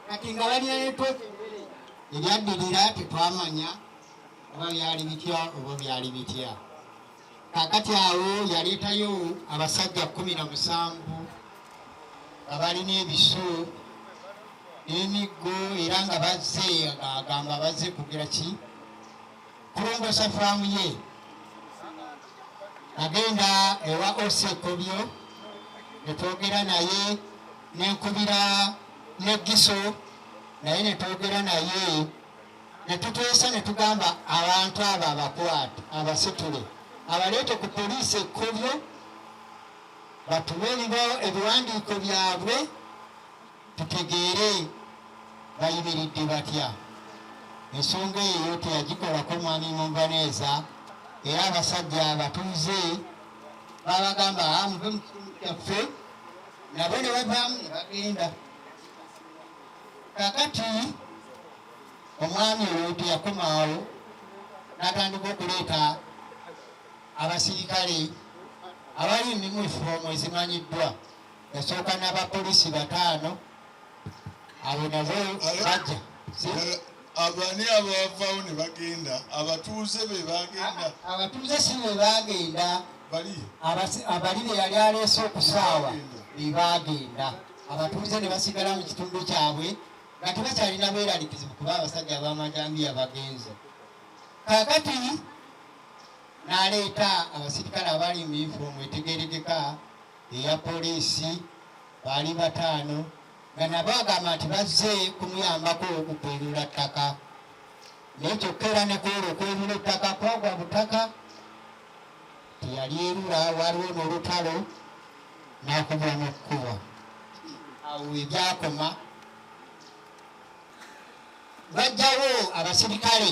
kati nga balyaeko ebyaddirira tetwamanya oba byali bitya oba byali bitya kakati awo yaleetayo abasajja kumi na musanvu nga balina ebiso n'emiggo era nga bazze agamba bazze kugera ki kulongosa faamu ye agenda ewa osekobyo netwogera naye nenkubira ne giso naye netwogera naye netuteesa netugamba abantu abo abakwate abasitule abaleete ku poliisi ekkolyo batume ebiwandiiko byabwe tutegeere bayimiridde batya ensonga eyo teyagikolako mwami munvaneeza era abasajja abatuuze babagamba ah, muve mu kitundu kyaffe nabo ne bavaamu ne bagenda kakati omwami oyo teyakomaawo natandika okuleeta abasirikale abali mu yunifoomu ezimanyiddwa yasooka n'abapoliisi bataano abo nabo bajja abani abavawo ne bagenda abatuuze be bagenda abatuuze si be bagenda abali be yali aleese okusaawa be bagenda abatuuze ne basigala mu kitundu kyabwe nga tebakyalina bweralikizibu kuba abasajja abamajambiya bagenze kakati naleeta abasirikale abali mu yunifoomu etegeregeka eya poliisi baali bataano nga nabo agamba nti bazze kumuyambako okupeerula ttaka naye kyokka era ne kwera okwerula ettaka kwagwa butaka teyali erula waliwo n'olutalo n'akubwa mu kkubo awo we byakoma bajjawo abasirikale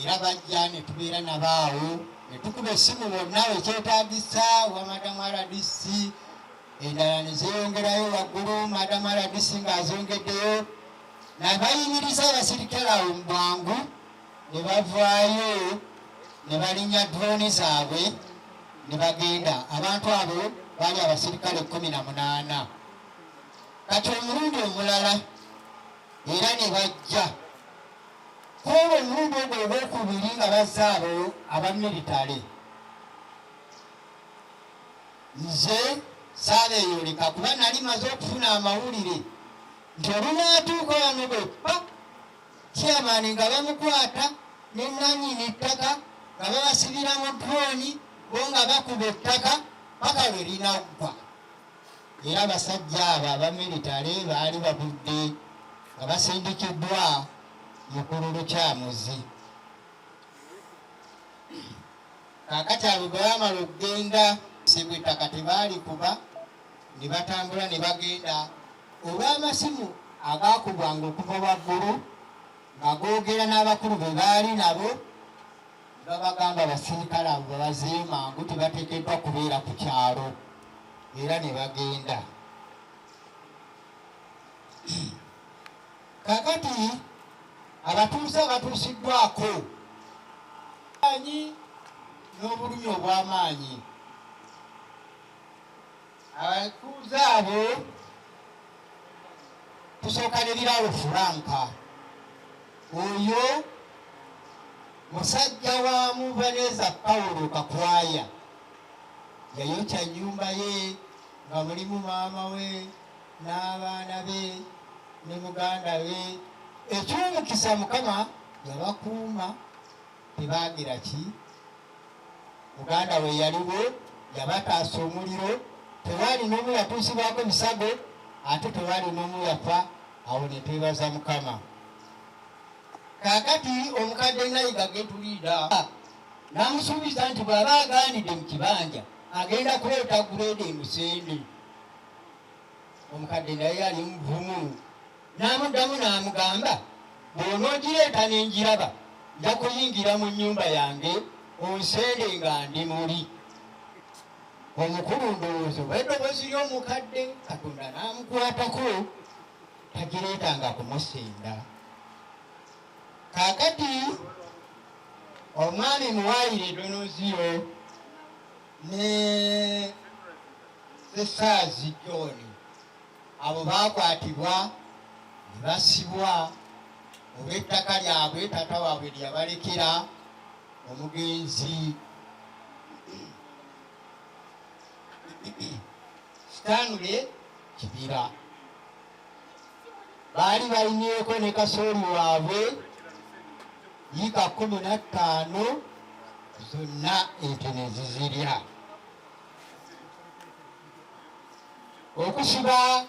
era bajja ne tubeera nabo awo ne tukuba essimu bonna ekyetaagisa wa madamu rdc endala ne zeeyongerayo waggulu madamu rdc ng'azongeddeyo nabayimiriza abasirikale awo mu bwangu ne bavaayo ne balinnya drooni zaabwe ne bagenda abantu abo baali abasirikale kumi na munaana kati omulundi omulala era ne bajja Kwolwo omulundi ogwo ogwokubiri nga bazze abo aba militale, nze saabeeyoleka kuba nali maze okufuna amawulire nti olunaatuuka wano bwe pa chairmani nga bamukwata ne nanyini ttaka nga babasibira mu droni bo nga bakuba ettaka paka lwe linaggwa. era abasajja abo abamiritale baali babudde nga basindikiddwa mukulu lukyamuzi kakati abo bwe bamala okugenda sibwa ettaka tebaali kuba ne batambula ne bagenda olw'amasimu agaakubwanga okuva waggulu nga googera n'abakulu be baali nabo Babagamba abasirikale abo babazeeyo mangu tebateekeddwa kubeera ku kyalo era ne bagenda. Kakati abatuuze abatuusiddwako anyi n'obulumi obw'amaanyi. abatuuze abo tusooka ne biraalo furanka oyo musajja wa muvaneza pawulo kakwaya yayokya nyumba ye nga mulimu maama we n'abaana be ne muganda we ekyomukisa mukama yabakuuma Tebaagira ki? Muganda we yaliwo, yabataasa omuliro, tewaali n'omu yatuusibwako bisago, ate tewaali n'omu yafa. Awo ne twebaza Mukama. Kaakati omukadde Nayiga getuliida n'amusuubiza nti bw'aba agaanidde mu kibanja agenda kuleeta guleeda emusende. Omukadde naye yali muvumu. N'amuddamu n'amugamba, Bw'onoogireeta ne ngiraba, nja kuyingira mu nnyumba yange onsende nga ndi muli. Omukulu ndowooza oba eddoboozi ly'omukadde Katonda n'amukwatako tagireetanga kumusenda. Kaakati omwami muwaayire eddonoozi yo ne sesaazi John abo baakwatibwa ne basibwa olw'ettaka lyabwe taata waabwe lyeyabalekera omugenzi sitanule kibira baali balinyeeko ne kasooli waabwe yiika kumi na ttaano zonna ente ne zizirya okufuba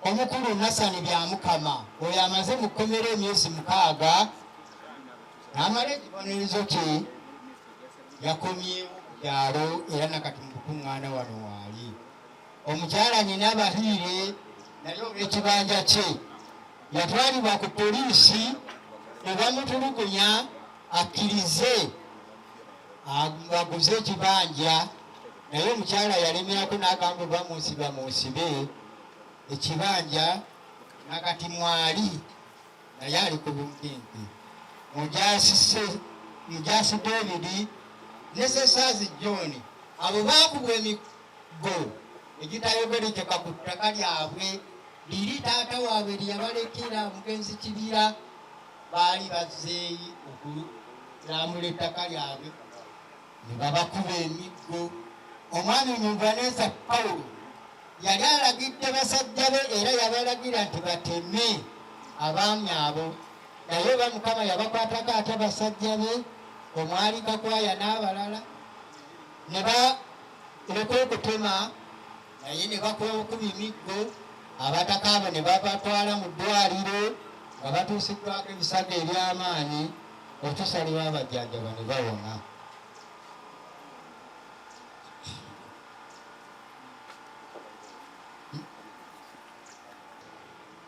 omukulu Nasani Byamukama oyo amaze mu kkomera emyezi mukaaga n'amala ekibonerezo kye yakomye byalo era nakati mu kukuŋŋaana wano waali omukyala nyina abahiire naye olw'ekibanja kye yatwalibwa ku poliisi ne bamutulugunya akkirize aguze ekibanja naye omukyala yalemerako nagamba oba munsiba munsibe ekibanja nakati mwali naye ali ku bumpimpi mujasise mujasi david ne sesaazi john abo bakubwa emiggo egitayogerekeka ku ttaka lyabwe liri taata waabwe lyeyabalekera omugenzi kibira baali bazeeyi okulambula ettaka lyabwe ne babakuba emiggo. Omwami Omunvaneeza Pawulo yali alagidde basajja be era yabalagira nti bateme abaami abo, naye oba Mukama yabakwatako ate basajja be omwali Kakwaya n'abalala ne baleka okutema naye ne bakuba emiggo abataka abo ne babatwala mu ddwaliro nga batuusiddwako ebisago eby'amaanyi. okutuusa lwe babajjanjaba ne bawona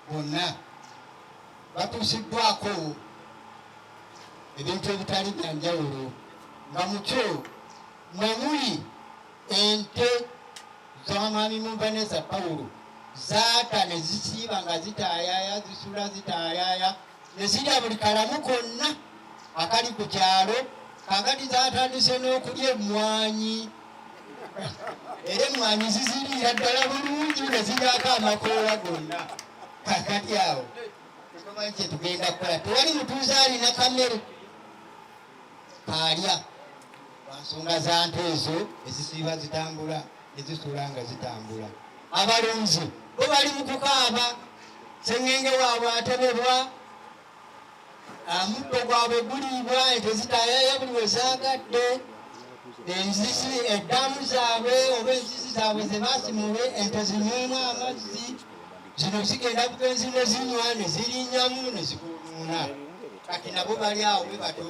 bonna batuusiddwako ebintu ebitali bya njawulo nga mukyo mwemuli ente z'omwami mumbaneza pawulo zaata ne zisiiba nga zitaayaaya zisula zitaayaaya ne zirya buli kalamu konna akali ku kyalo kakati zatandise n'okulya emmwanyi era emmwanyi ziziriira ddala bulungi ne ziryako amakoola gonna kakati awo tetumanyi kyetugenda kukola tewali mutuuze alina kamere kaalya lwansonga za nte ezo ezisiiba zitambula ezisula nga zitambula abalunzi bo bali mu kukaaba sengenge waabwe atebebwa amuddo gwabwe guliibwa ente zitayayo buli we zaagadde enzizi eddamu zaabwe oba enzizi zaabwe ze basimule ente zinyumu amazzi zino zigenda bugenzi ne zinywa ne zirinyamu ne zikunuuna kati nabo bali awo bwe batyo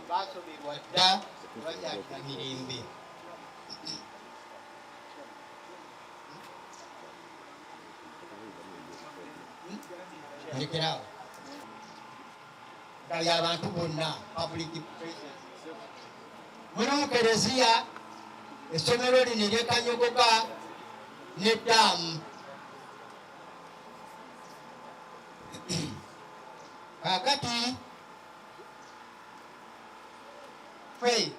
baasoberwa dda bakyalina mirembe Check it out. nga lya bantu bonna public mulimu kereziya essomero lino eryekanyogoka ne daamu kakati fei